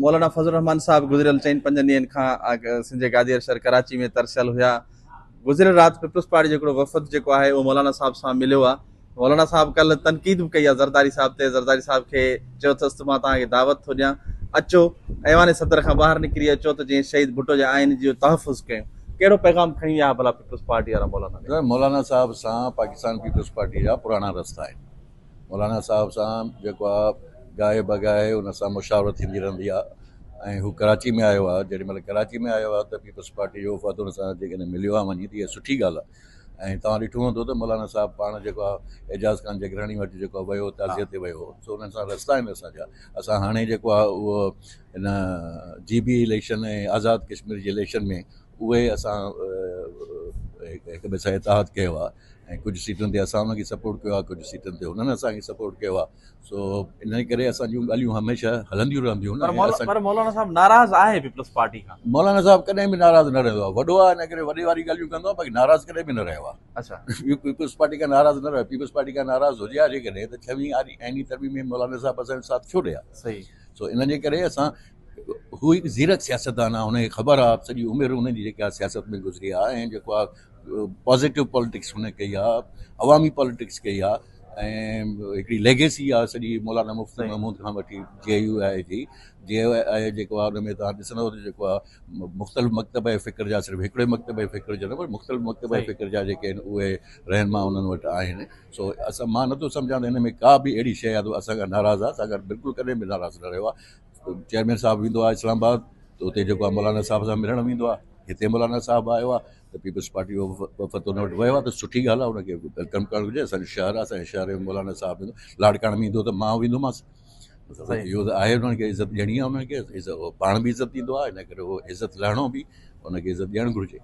مولانا فضل الرحمان صاحب گذريل چئن پنجن ڏينهن کان سنڌ جي گادير شهر ڪراچي ۾ ترسيل هيا گذريل رات پيپلز پارٽي جو هڪڙو وفد جيڪو آهي اهو مولانا صاحب سان مليو آهي مولانا صاحب ڪل تنقيد به ڪئي آهي زرداري صاحب تي زرداري صاحب کي چيو اٿس مان توهان کي دعوت ٿو ڏيان اچو ايوان صدر کان ٻاهر نڪري اچو ته جيئن شهيد ڀٽو جي آئين جو تحفظ ڪيون ڪهڙو پيغام کڻي ويا ڀلا پيپلز پارٽي وارا مولانا مولانا صاحب سان پاڪستان پيپلز پارٽي جا پراڻا رستا آهن مولانا صاحب سان جيڪو آ گاهي بگاهي ان سان مشاورت ٿيندي رهندي آ ۽ هو ڪراچي ۾ آيو آ جيڏي مهل ڪراچي ۾ آيو آ ته پيپلز پارٽي جو وفد ان سان جيڪڏهن مليو آ وڃي ته اها سٺي ڳالهه آ ۽ توهان ڏٺو هوندو ته مولانا صاحب پاڻ جيڪو آ اعجاز خان جگراڻي وٽ جيڪو آ ويو تعزيت تي ويو سو انهن سان رستا آهن اسان جا اسان هاڻي جيڪو آ اهو ان جي بي اليڪشن ۽ آزاد ڪشمير جي اليڪشن ۾ اهي اسان هڪ ٻئي سان اتحاد ڪيو آ ۽ ڪجهه سيٽن تي اسان انهن کي سپورٽ ڪيو آهي ڪجهه سيٽن تي هنن اسان کي سپورٽ ڪيو آهي سو انهي ڪري اسان جون ڳالهيون هميشه هلنديون رهنديون آهن پر مولانا صاحب ناراض آهي پيپلز پارٽي کان مولانا صاحب ڪڏهن به ناراض نه رهندو آهي وڏو آهي انهي ڪري وڏي واري ڳالهيون ڪندو آهي باقي ناراض ڪڏهن به نه رهيو آهي اڇا پيپلز پارٽي کان ناراض نه رهيو پيپلز پارٽي کان ناراض هجي آهي جيڪڏهن ته ڇوين آئيني ترميم ۾ مولانا صاحب اسان جو ساٿ ڇو ڏئي آهي صحيح سو ان جي ڪري اسان هو هڪ زيرڪ سياستدان آهي هن کي خبر آهي سڄي عمر هن جي جيڪا سياست ۾ گذري آهي ۽ جيڪو آهي پازيٽو پاليٽڪس هن ڪئي آهي عوامي پاليٽڪس ڪئي آهي ۽ هڪڙي ليگيسي آهي سڄي مولانا مفتي محمود کان وٺي جي اي يو آئي جي جي اي يو آئي جيڪو آهي ان ۾ توهان ڏسندو ته جيڪو آهي مختلف مڪتب جي فڪر جا صرف هڪڙي مڪتب جي فڪر جا نه پر مختلف مڪتب جي فڪر جا جيڪي آهن اهي رهنما انهن وٽ آهن سو اسان مان نٿو سمجهان ته هن ۾ ڪا به اهڙي شيء آهي جو اسان کان ناراض آهي اسان کان بلڪل ڪڏهن به ناراض نه رهيو آهي چيئرمين صاحب ويندو آهي اسلام آباد ته اتي جيڪو آهي مولانا صاحب سان ملڻ ويندو آهي هتي مولانا صاحب آيو آهي ته پيپلز پارٽي جو وفد ان وٽ ويو آهي ته سٺي ڳالهه آهي ان کي ويلڪم ڪرڻ گهرجي اسان جو شهر آهي اسان جي شهر ۾ مولانا صاحب ايندو لاڙڪاڻي ۾ ايندو ته مان ويندومانس اهو ته آهي انهن کي عزت ڏيڻي آهي انهن کي پاڻ به عزت ڏيندو آهي ان ڪري عزت لهڻو به ان کي عزت ڏيڻ گهرجي